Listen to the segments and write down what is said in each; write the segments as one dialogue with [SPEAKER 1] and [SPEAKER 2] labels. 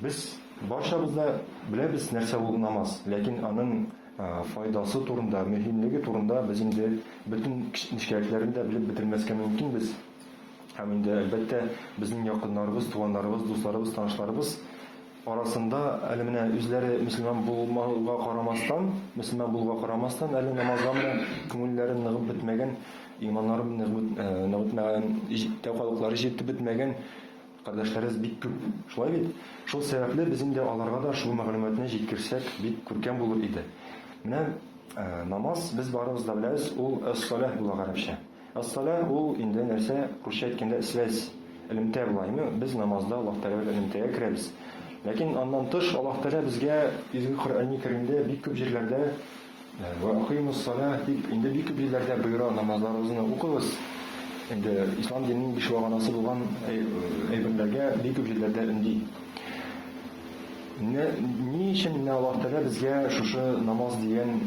[SPEAKER 1] Без барчабыз да беләбез, нәрсә ул намаз, ләкин аның файдасы турында, мөһимлеге турында без инде бөтен нечкәлекләрен дә белеп бетермәскә мөмкин без. Һәм инде, әлбәттә, безнең якыннарыбыз, туганнарыбыз, дусларыбыз, танышларыбыз арасында әле менә үзләре мөселман булмауга карамастан, мөселман булуга карамастан, әле намазга менә күңелләре ныгып бетмәгән Иманнары нык бит, нык бетмәгән, җиттә калыклары җитеп бетмәгән кардәшләребез бик күп. Шулай бит? Шул сәбәпле без инде аларга да шул мәгълүматны җиткерсәк, бик күркәм булыр иде. Менә намаз, без барыбыз да беләбез, ул әс-саләһ була гарәпчә. Әс-саләһ ул инде нәрсә, русча әйткәндә связь, элемтә була. Әйме, без намазда Аллаһ Тәгалә белән элемтәгә керәбез. Ләкин аннан тыш Аллаһ Тәгалә безгә Изге Коръәни Кәримдә бик күп җирләрдә, Вә окыймуссаләһ дип, инде бик күп җирләрдә боера, намазларыгызны укыгыз. Инде ислам диненең биш вәгъдәсе булган әйберләргә бик күп җирләрдә өнди. Менә ни өчен менә Аллаһ Тәгалә безгә шушы намаз дигән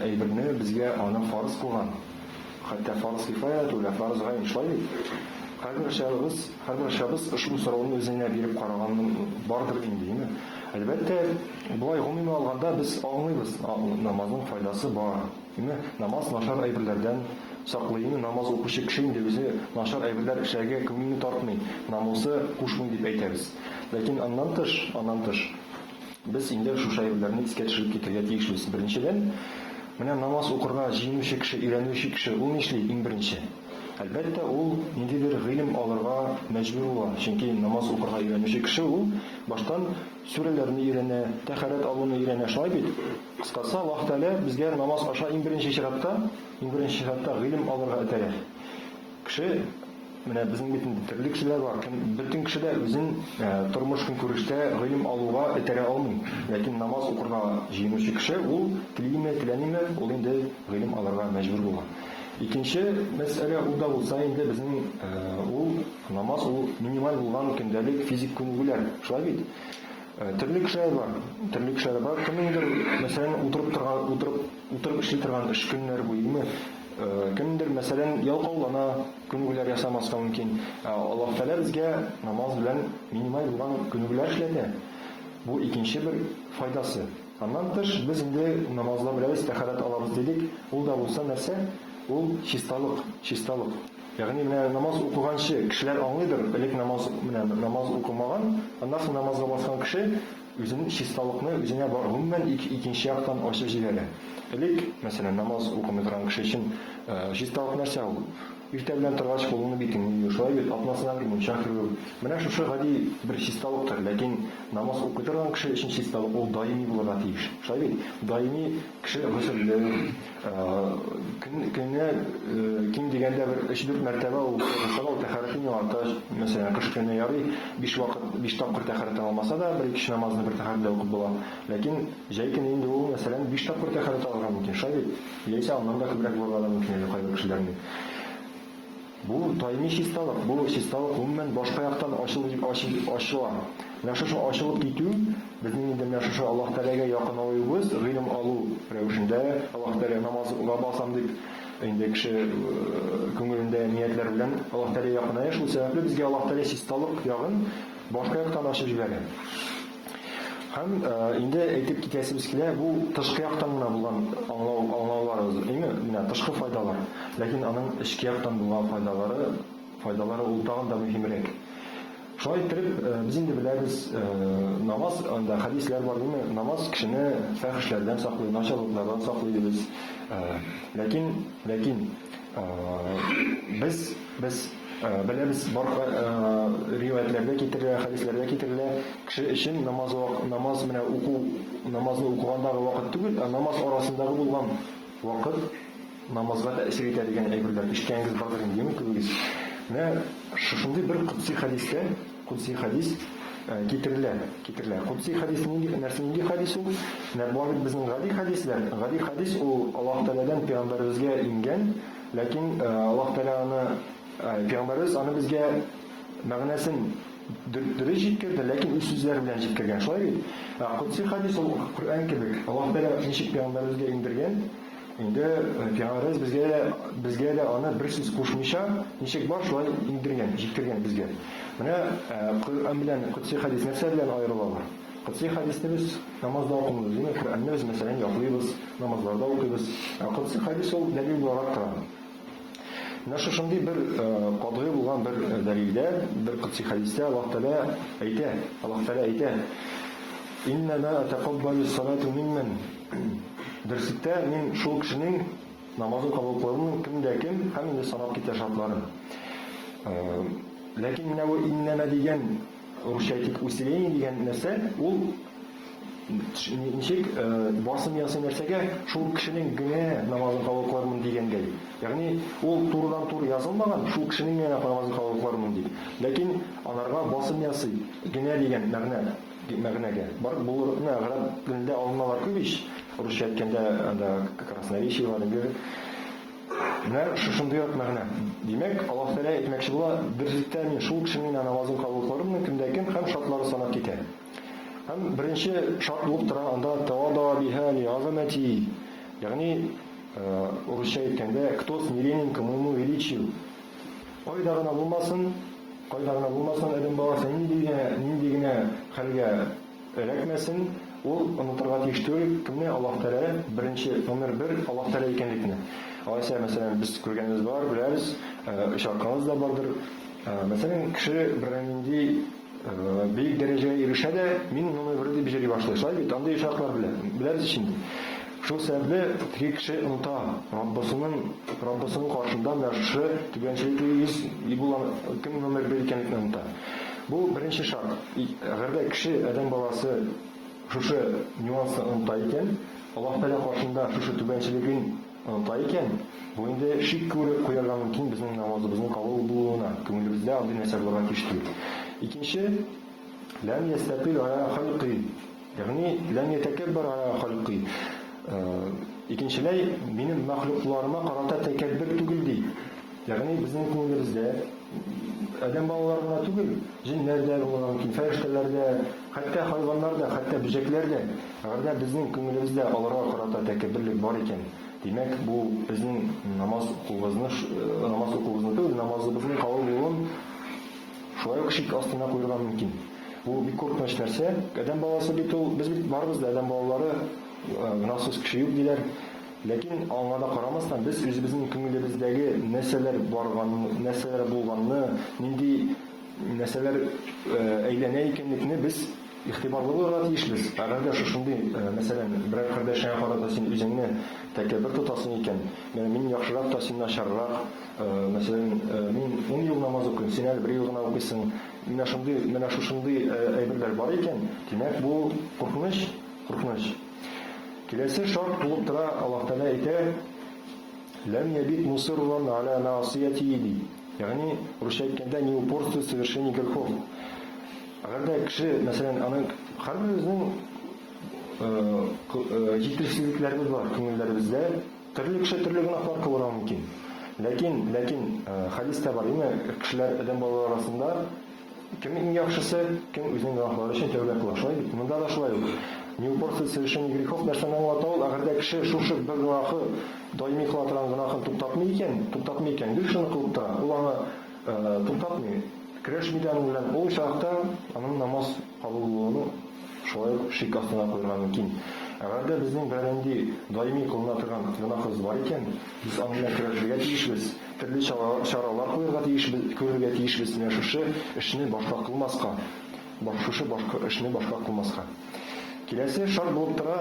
[SPEAKER 1] әйберне, безгә аны фарыз кылган. Хәтта фарыз кифая түгел, ә фарыз гайн шулай бит? Һәрберчагыбыз, һәрберчабыз ошбу сорауны үзеңә биреп караганың бардыр инде, име? Әлбәттә, болай гомуми алганда без аңлыйбыз, намазның файдасы бар, име? Намаз начар әйберләрдән саклый, име? Намаз укучы кеше инде үзе начар әйберләр эшләргә күңелне тартмый, намусы кушмый дип әйтәбез. Ләкин аннан тыш, аннан тыш. Без инде шушы әйберләрне искә төшереп китәргә тиешбез. Беренчедән, менә намаз укырга җыенучы кеше, өйрәнүче кеше, ул нишли, иң беренче? Әлбәттә, ул ниндидер гыйлем алырга мәҗбүр була, чөнки намаз укырга өйрәнүче кеше ул баштан сүрәләрне өйрәнә, тәһарәт алуны өйрәнә, шулай бит? Кыскасы, Аллаһ Тәгалә безгә намаз аша иң беренче чиратта, иң беренче чиратта гыйлем алырга этәрә. Кеше. Менә безнең бит инде төрле кешеләр бар, кем, бөтен кеше дә үзен тормыш-көнкүрештә гыйлем алуга этәрә алмый. Ләкин намаз укырга җыенучы кеше, ул телиме, теләмиме, ул инде гыйлем алырга мәҗбүр була. Икенче мәсьәлә, ул да булса инде безнең ул, намаз ул минималь булган көндәлек физик күнегүләр, шулай бит? Төрле кешеләр бар, төрле кешеләр бар, кемнеңдер, мәсәлән, утырып торган, утырып, утырып эшли торган эш көннәр буе, име, Кемдер, мәсәлән, ялкаулана, күнегүләр ясамаска мөмкин. Ә Аллаһ Тәгалә безгә намаз белән минималь булган күнегүләр эшләтә. Бу икенче бер файдасы. Аннан тыш, без инде намазлар беләбез, тәһарәт алабыз дидек. Ул да булса нәрсә? Ул чисталык, чисталык. Ягъни менә намаз укыганчы, кешеләр аңлыйдыр, элек намаз, менә намаз укымаган, аннан соң намазга баскан кеше, Үзенең чисталыкны үзенә гомумән икенче яктан ачып җибәрә. Элек, мәсәлән, намаз укымый торган кеше өчен чисталык нәрсә ул? Иртә белән торгач, кулыңны-битеңне юу, шулай бит, атнасына бер мунча керү. Менә шушы гади бер чисталыктыр. Ләкин намаз укый торган кеше өчен чисталык ул даими булырга тиеш. Шулай бит? Даими кеше гөселле, Көненә ким дигәндә бер өч-дүрт мәртәбә ул кайгырса да, ул тәһарәтен яңарта. Мәсәлән, кыш көне ярый, биш вакыт, биш тапкыр тәһарәттән алмаса да, бер икече намазны бер тәһарәттә укып була. Ләкин җәй көне инде ул, мәсәлән, биш тапкыр тәһарәт алырга мөмкин, шулай бит? Яисә аннан да күбрәк булырга да мөмкин әле кайбер кешеләрнең. Бу даими чисталык, бу чисталык гомумән башка яктан ачыла. Менә шушы ачылып китү, безнең инде менә шушы Аллаһ Тәгаләгә якынаюыбыз, гыйлем алу рәвешендә, Аллаһ Тәгаләгә намаз уга басам дип, инде кеше күңелендә ниятләр белән Аллаһ Тәгаләгә якыная, шул сәбәпле безгә Аллаһ Тәгалә чисталык ягын башка яктан ачып җибәрә. Һәм инде әйтеп китәсебез килә, бу тышкы яктан гына булган аңлау, аңлауларыбыз, иң менә тышкы файдалар. Ләкин аның эчке яктан булган файдалары, файдалары ул тагын да мөһимрәк. Шулай иттереп, без инде беләбез, намаз, анда хәдисләр бар, диме, намаз кешене фәхешләрдән саклый, начарлыклардан саклый дибез. Ләкин, ләкин без, без, Беләбез, бар риваятьләрдә китерелә, хәдисләрдә китерелә, кеше өчен намаз вак, намаз менә уку, намазны укугандагы вакыт түгел, ә намаз арасындагы булган вакыт намазга тәэсир итә дигән әйберләр ишеткәнегез бардыр инде, юкмы күбегез? Менә шушындый бер кудси хәдистә, кудси хәдис китерелә, китерелә. Кудси хәдис нинди, нәрсә, нинди хәдис ул? Менә була бит безнең гади хәдисләр, гади хәдис ул Аллаһ Тәгаләдән пәйгамбәребезгә иңгән, Ләкин Аллаһ Тәгалә аны, пәйгамбәребез аны безгә мәгънәсен дөрес җиткерде, ләкин үз сүзләре белән җиткергән. Шулай бит? Ә Котси хәдис ул Коръән кебек. Аллаһ Тәгалә ничек пәйгамбәребезгә иңдергән, инде пәйгамбәребез безгә дә, безгә дә аны бер сүз кушмыйча, ничек бар, шулай иңдергән, җиткергән безгә. Менә Коръән белән Котси хәдис нәрсә белән аерылалар? Котсый хәдисне без намазда укымыйбыз, димәк, Коръәнне без, мәсәлән, ятлыйбыз, намазларда укыйбыз. Ә котсый хәдис ул дәлил буларак тора. Менә шушындый бер катгый булган бер дәлилдә, бер котсый хәдистә Аллаһ Тәгалә әйтә, Аллаһ Тәгалә әйтә, Иннама атакаббалю салату минмен. Берситтә мин шул кешенең намазын кабул кылырмын, кемдә кем, һәм инде санап китә шартларын. Ләкин менә бу иннама дигән Русча әйтик, усиление дигән нәрсә, ул ничек барсын ясы нәрсәгә шул кешенең генә намазын кабул кылырмын дигәнгә. Ягъни ул турыдан тур язылмаган, шул кешенең генә намазын кабул кылырмын дип. Ләкин анарга басым ясый, генә дигән мәгънә мәгънәгә. Бар булырны гарәп телендә алынмалар күп ич. Русча әйткәндә анда красноречие бар, инглиз. Менә шушындый рак мәгънә. Димәк, Аллаһ Тәгалә әйтмәкче була, бер җирдә мин шул кешенең генә намазын кабул кылырмын, кемдә кем, һәм шартлары санап китә. Һәм беренче шарт булып тора анда тавадаа биһаа лигазамәтии, ягъни, урысча әйткәндә, кто смиренен к моему величию. Кайда гына булмасын, кайда гына булмасын, адәм баласы нинди генә, нинди генә хәлгә Эләкмәсен, ул онытырга тиеш түгел, кемне Аллаһ Тәгалә беренче, номер бер Аллаһ Тәгалә икәнлекне. Алайса, мәсәлән, без күргәнебез бар, беләбез, очратканыбыз да бардыр. Мәсәлән, кеше бернинди бөек дәрәҗәгә ирешә дә, мин номер бер дип җыри башлый. Шулай бит, андый очраклар беләбез ич инде. Шул сәбәпле, теге кеше оныта, Раббысының, Раббысының каршында менә шушы түбәнчелекле йөз Ибулан кем номер бер икәнлекне оныта. Бу беренче шарт. И, әгәр дә кеше, адәм баласы, шушы нюансны оныта икән, Аллаһ Тәгалә каршында шушы түбәнчелеген оныта икән, бу инде шик күреп куярга мөмкин безнең намазыбызның кабул булуына, күңелебездә андый нәрсә булырга тиеш түгел. Икенче, Ләм ястәпил галә халькый. Ягъни, ләм ятәкәббәр галә халкый. Икенчеләй, минем мәхлукларыма карата тәкәббер түгел, ди. Ягъни, безнең күңелебездә адәм балалары гына түгел, җеннәр дә булырга мөмкин, фәрештәләр дә, хәтта хайваннар да, хәтта бөҗәкләр дә. Әгәр дә безнең күңелебездә аларга карата тәкәбберлек бар икән, димәк, бу безнең намаз укуыбызны, намаз укуыбызны түгел, намазыбызның кабул булуын, Шулай ук шик астына куерга мөмкин. Бу бик куркыныч нәрсә. Адәм баласы бит ул, без бит барыбыз да адәм балалары, гөнаһсыз кеше юк, диләр. Ләкин аңа да карамастан, без үзебезнең күңелебездәге нәрсәләр барган, нәрсәләр булганны, нинди нәрсәләр әйләнә икәнлекне без игътибарлы булырга тиешбез. Әгәр дә шушындый, мәсәлән, берәр кардәшеңә карата син үзеңне тәкәббер тотасың икән, менә мин яхшырак та син начаррак, Мәсәлән, мин ун ел намаз укыйм, син әле бер ел гына укыйсың. Менә шундый, менә шушындый әйберләр бар икән, димәк, бу куркыныч, куркыныч. Киләсе шарт тулып тора, Аллаһ Тәгалә әйтә, Ләм ябит мусирран аля маасиятиһи, ди. Ягъни, русча әйткәндә, не упорствует в совершении грехов. Әгәр дә кеше, мәсәлән, аны һәрберебезнең җитешсезлекләребез бар күңелләребездә. Төрле кеше төрле гөнаһлар кылырга мөмкин. Ләкин, ләкин, хәдис тә бар, име, кешеләр адәм балалары арасында кем иң яхшысы, кем үзенең гөнаһлары өчен тәүбә кыла, шулай бит? Монда да шулай ук. Не упорствуй в совершении грехов нәрсәне аңлата ул, әгәр дә кеше шушы бер гөнаһы, даими кыла торган гөнаһын туктатмый икән, туктатмый икән, гел шуны кылып тора, ул аны туктатмый, көрәшми дә аның белән, ул очракта аның намаз, Кабул булуны шулай ук шик астына куярга мөмкин. Әгәр дә безнең берәнинди даими кылына торган гөнаһыбыз бар икән, без аның белән көрәшергә тиешбез, төрле чаралар куярга тиешбез, күрергә тиешбез менә шушы эшне башка кылмаска, шушы башка эшне башка кылмаска. Киләсе шарт булып тора,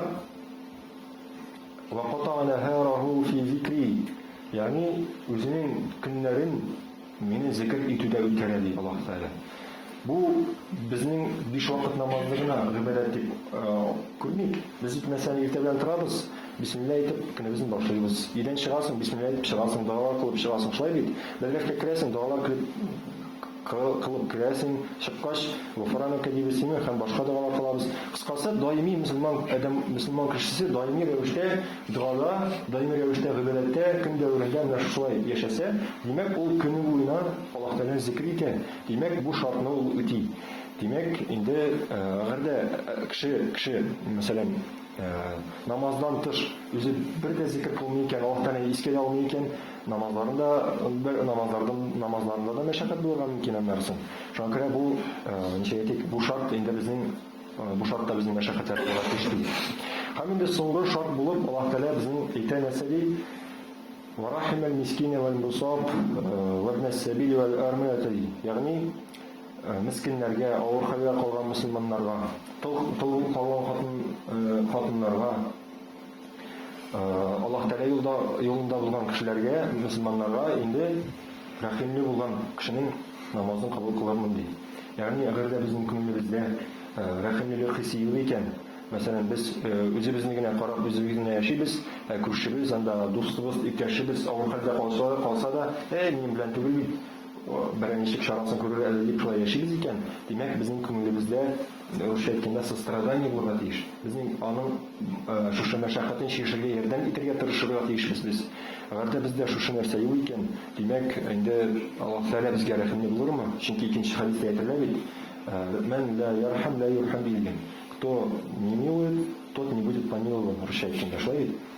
[SPEAKER 1] Ваката нәһараху фи зикри, ягъни үзенең көннәрен, Мине зекер итү дә үткәрә, ди Аллаһ Тәгалә. Бу безнең биш вакыт намазны гына гыйбадәт дип күрмик. Без җитмәсә иртә белән торабыз, бисмилла әйтеп, көнебезне башлыйбыз. Өйдән чыгасың, бисмилла әйтеп чыгасың, дугалар кылып чыгасың, шулай бит? Бәргәшкә керәсең, дугалар килеп кылып керәсең, чыккач, Гуфранәкә дибез, димме, һәм башка дугалар кылабыз. Кыскасы, даими мөселман адәм, мөселман кешесе даими рәвештә Догада, даими рәвештә гыйбадәттә, көн дәверендә менә шушылай яшәсә, димәк, ул көне буена Аллаһ Тәгаләне зикер итә, димәк, бу шартны ул үти. Димәк, инде әгәр дә кеше, кеше, мәсәлән, намаздан тыш үзе бер дә зикер кылмый икән, Аллаһ Тәгаләне искә дә алмый икән, намазларын да, намазлардан, намазларында да мәшәкать булырга мөмкин, аннарысы. Шуңа күрә бу, ничек әйтик, бу шарт инде безнең. Бу шарт та безнең мәшәкатьләргә генә тиеш түгел. Һәм инде соңгы шарт булып Аллаһ Тәгалә безнең әйтә, нәрсә ди? Варахим әл-мискине вәл-мусаб вәбн әс-сәбил вәл-армиләте ди. Ягъни, мескеннәргә, авыр хәлгә калган мөселманнарга, тол калган хатын-хатыннарга, Аллаһ Тәгалә юлда, юлында булган кешеләргә, мөселманнарга инде рәхимле булган кешенең намазын кабул кылырмын ди. Ягъни, әгәр дә безнең күңелебездә рәхимлелек хисе юк икән, мәсәлән, без үзебезне генә карап, үзебез генә яшибез, ә күршебез, анда дустыбыз, иптәшебез авыр хәлдә калса, калса да, әй, минем белән түгел бит, берәр ничек чарасын күрер әле дип шулай яшибез икән, димәк, безнең күңелебездә Рәвештә әйткәндә, сострадание булырга тиеш. Безнең аның шушы мәшәкатен чишергә ярдәм итәргә тырышырга тиешбез без. Әгәр дә бездә шушы нәрсә юк икән, димәк, инде Аллаһ Тәгалә безгә рәхимле булырмы? Чөнки икенче хәдистә әйтелә бит, Мән лә ярхам лә юрхам, диелгән. Кто не милует, тот не будет помилован, русча әйткәндә, шулай бит?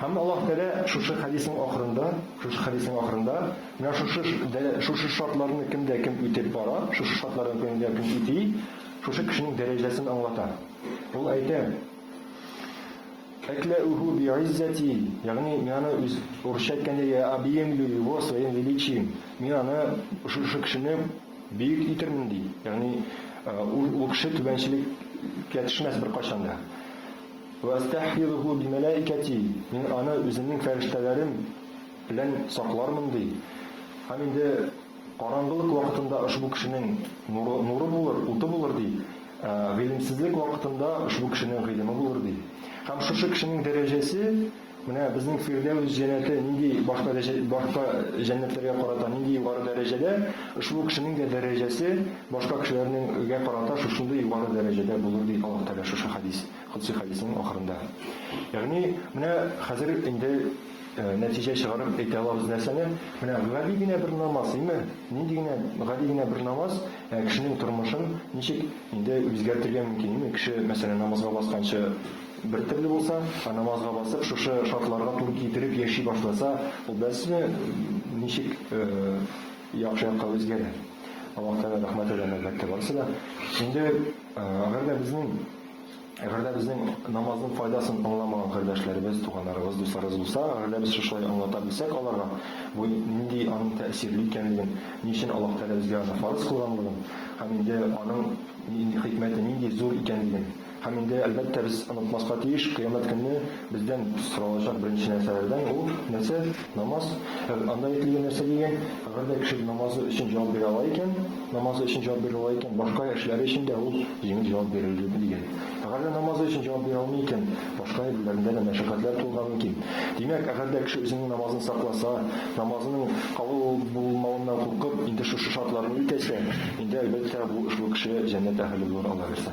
[SPEAKER 1] Һәм Аллаһ Тәгалә шушы хәдиснең ахырында, шушы хәдиснең ахырында, менә шушы шушы шартларны кем дә кем үтеп бара, шушы шартларны кем дә кем үти, шушы кешенең дәрәҗәсен аңлата. Ул әйтә, Әкләүһу би'иззәти, ягъни мин аны үз урысча әйткәндә я объемлю его своим величием. Мин аны шушы кешене бөек итермен ди. Ягъни ул кеше түбәнчелеккә төшмәс беркайчан да. Вәәстәхфизуху бимәләәикәти, мин аны үземнең фәрештәләрем белән саклармын, ди. Һәм инде караңгылык вакытында ошбу кешенең нуры, нуры булыр, уты булыр, ди. Ә гыйлемсезлек вакытында ошбу кешенең гыйлеме булыр, ди. Һәм шушы кешенең дәрәҗәсе, менә безнең Фирдәүс җәннәте нинди башка дәҗә, башка җәннәтләргә карата нинди югары дәрәҗәдә, ошбу кешенең дә дәрәҗәсе башка кешеләрнең гә карата шушындый югары дәрәҗәдә булыр, ди Аллаһ Тәгалә шушы хәдис. Котсый хәдиснең ахырында. Ягъни, менә хәзер инде нәтиҗә чыгарып әйтә алабыз нәрсәне, менә гади генә бер намаз, име, нинди генә гади генә бер намаз кешенең тормышын ничек инде үзгәртергә мөмкин, име, кеше, мәсәлән, намазга басканчы бер төрле булса, ә намазга басып, шушы шартларга туры китереп яши башласа, ул бәлсме ничек яхшы якка үзгәрер. Аллаһ Тәгалә рәхмәт итсен, әлбәттә, барысы да. Инде, әгәр дә безнең Әгәр дә безнең намазның файдасын аңламаган кардәшләребез, туганнарыбыз, дусларыбыз булса, әгәр дә без шушылай аңлата белсәк аларга, бу нинди аның тәэсирле икәнлеген, ни өчен Аллаһ Тәгалә безгә аны фарыз кылганлыгын һәм инде аның хикмәте нинди зур икәнлеген, һәм инде, әлбәттә, без онытмаска тиеш, кыямәт көнне, Бездән соралачак беренче нәрсәләрдән ул нәрсә? Намаз. Ә анда әйтелгән нәрсә дигән? Әгәр дә кеше намазы өчен җавап бирә ала икән, намазы өчен җавап бирә ала икән, башка эшләре өчен дә ул җиңел җавап бирер иде, дигән. Әгәр дә намазы өчен җавап бирә алмый икән, башка әйберләрендә дә мәшәкатьләр тулырга мөмкин. Димәк, әгәр дә кеше үзенең намазын сакласа, намазының кабул булмавыннан куркып, инде шушы шартларны үтәсә, инде, әлбәттә, бу ошбу кеше җәннәт әһеле булыр, Аллаһы бирсә.